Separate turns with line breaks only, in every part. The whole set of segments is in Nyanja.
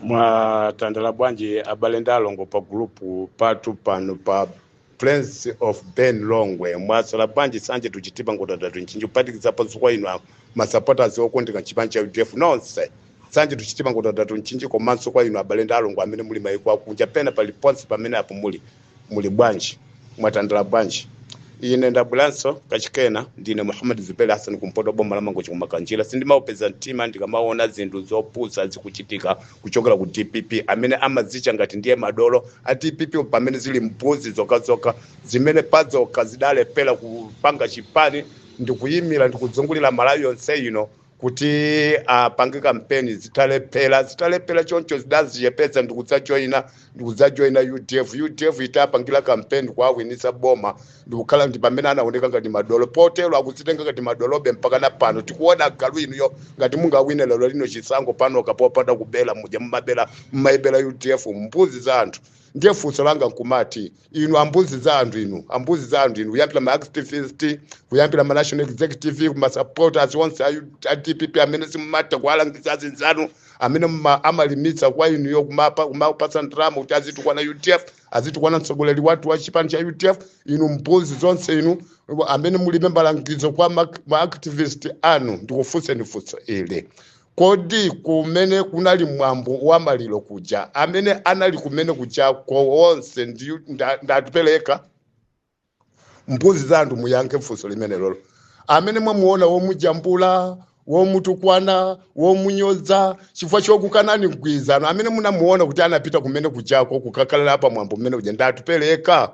mwatandala bwanji abale ndi alongo pa gulupu patu pano pa friends of ben longwe mwasala bwanji nsanje to chitipa nkhotakota to mchinji kuphatikizaponso kwa inu masupporters okondeka chipani cha udf nonse nsanje to chitipa nkhotakota to mchinji komanso kwa inu abale ndi alongo amene muli maiko akunja pena paliponse pamene apo muli muli bwanji mwatandala bwanji ine ndabweranso kachikena ndine muhammad zuberi hassan kumpoto boma la mangochi kumakanjira sindimaupeza mtima ndikamaona zinthu zopusa zikuchitika kuchokera ku dpp amene amazitcha ngati ndiye madolo a dpp pamene zili mbuzi zokhazokha zimene pazokha zidalephera kupanga chipani ndikuyimira ndikuzungulira malawi yonse ino kuti apange kampeni zitalephera zitalephera choncho zidazichepetsa ndikudzajoyina ndikudzajoyina udf udf itapangira kampeni kuawinisa boma ndikukhala ndi pamene anaoneka ngati madolo potero akudzitenga ngati madolobe mpaka na pano tikuona agalu inuyo ngati mungawine lero lino chisankho panokha popanda kubera muja mumabera mumayibera udf mbuzi za anthu ndiye funso langa nkumati inu ambuzi za anthu inu ambuzi za anthu inu kuyambira ma activist kuyambira ma national executive ma supporters onse a U- a dpp amene simumatha kuwalangiza azinzanu amene mma- amalimitsa kwa inuyo kumapa kumapatsa ndalama kuti azitukwana udf azitukwana mtsogoleri wathu wa chipani cha udf inu mbuzi zonse inu amene mulibe malangizo kwa ma ma activist anu ndikufunseni funso ili Kodi kumene kunali mwambo wa maliro kuja, amene anali kumene kujako onse ndi Atupele yekha? Mbuzi za anthu muyankhe funso limenelolo. Amene mwamuona womujambula, womutukwana, womunyoza chifukwa chokukanani mgwirizano, amene munamuona kuti anapita kumene kujako kukakhala pa mwambo umene uja ndi Atupele yekha?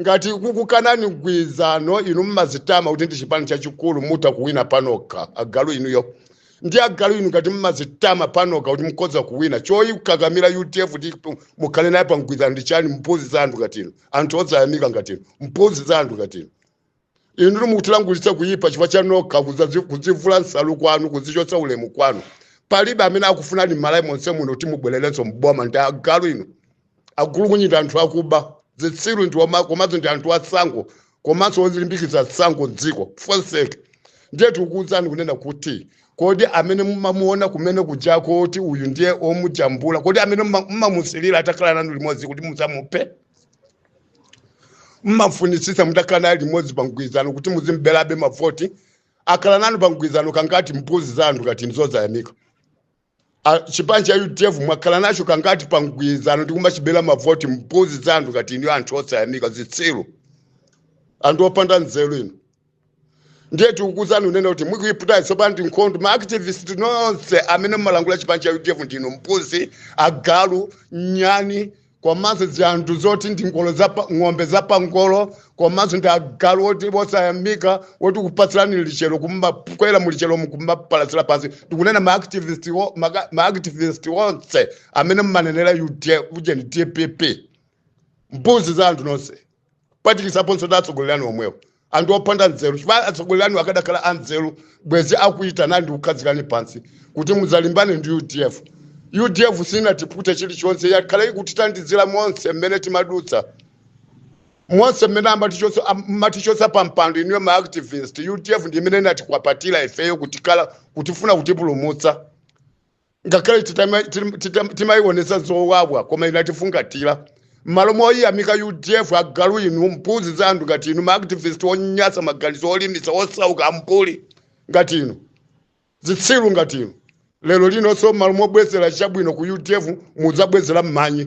ngati kukukanani mgwirizano inu mmazitama kuti ndi chipani chachikulu mutha kuwina panokha agalu inuyo ndi agalu inu ngati mmazitama panokha kuti mukhoza kuwina choyikakamira udf kuti mukhale naye pa mgwirizano ndi chani mbuzi za anthu ngati inu anthu osayamika ngati inu mbuzi za anthu ngati inu inutu mukutilankhulitsa kuyipa chifukwa cha nokha kuzazi- kudzivula nsalu kwanu kuzichotsa ulemu kwanu palibe amene akufunani m'malawi monse muno kuti mubwererenso mboma ndi agalu inu agulukunyinda anthu akuba zitsiru ndi oma- komanso ndi anthu atsankho komanso ozilimbikitsa tsankho dziko fonseke ndiye tikukuwuzani kunena kuti kodi amene mumamuona kumene kujako kuti uyu ndiye omujambula kodi amene muma- mumamusilira atakhala nanu limodzi kuti mudzamuphe mmafunitsitsa mutakhala naye limodzi pa mgwirizano kuti muzimberabe mavoti akhala nanu pa mgwirizano kangati mbuzi za anthu ngati inu zosayamika A- chipani cha udf mwakhala nacho kangati pa mgwirizano ndi kumachibera mavoti mbuzi za anthu ngati inu anthu osayamika zitsiru anthu opanda nzeru inu ndiye tikukuuzani unena kuti mukuiputa tsopano ndi nkhondo maactivist nonse amene mumalankhula chipani cha udf ndinu mbuzi agalu nyani komanso zinthu zoti ndi ngolo za pa- ng'ombe za pangolo komanso ndi agalu oti osayamika oti kupatsirani lichero kumakwera mu lichero mukumapalatsira pansi ndikunena maactivist wo- maka- maactivist onse amene mumanenera udf ujeni dpp mbuzi za anthu nonse kuphatikizaponso ndi atsogoleri anu omwewo anthu opanda nzeru chifukwa atsogoleri anu akadakhala anzeru bwezi akuitana ndi kukhazikani pansi kuti mudzalimbane ndi udf udf sinatipute chilichonse yakhala ikutitandizira monse mmene timadutsa monse mmene amatichotsa am- matichotsa pa mpando inuyo maactivist udf ndi imene inatikupatira ifeyo kutikala kutifuna kutipulumutsa ngakhale titama- tim- titam- timayionetsa zowawa koma inatifungatira m'malo moyiyamika udf agalu inu mbuzi za anthu ngati inu maactivist onyasa maganizo olimitsa osauka ambuli ngati inu zitsiru ngati inu lero linonso m'malo mobwezera chabwino ku udf mudzabwezera m'manyi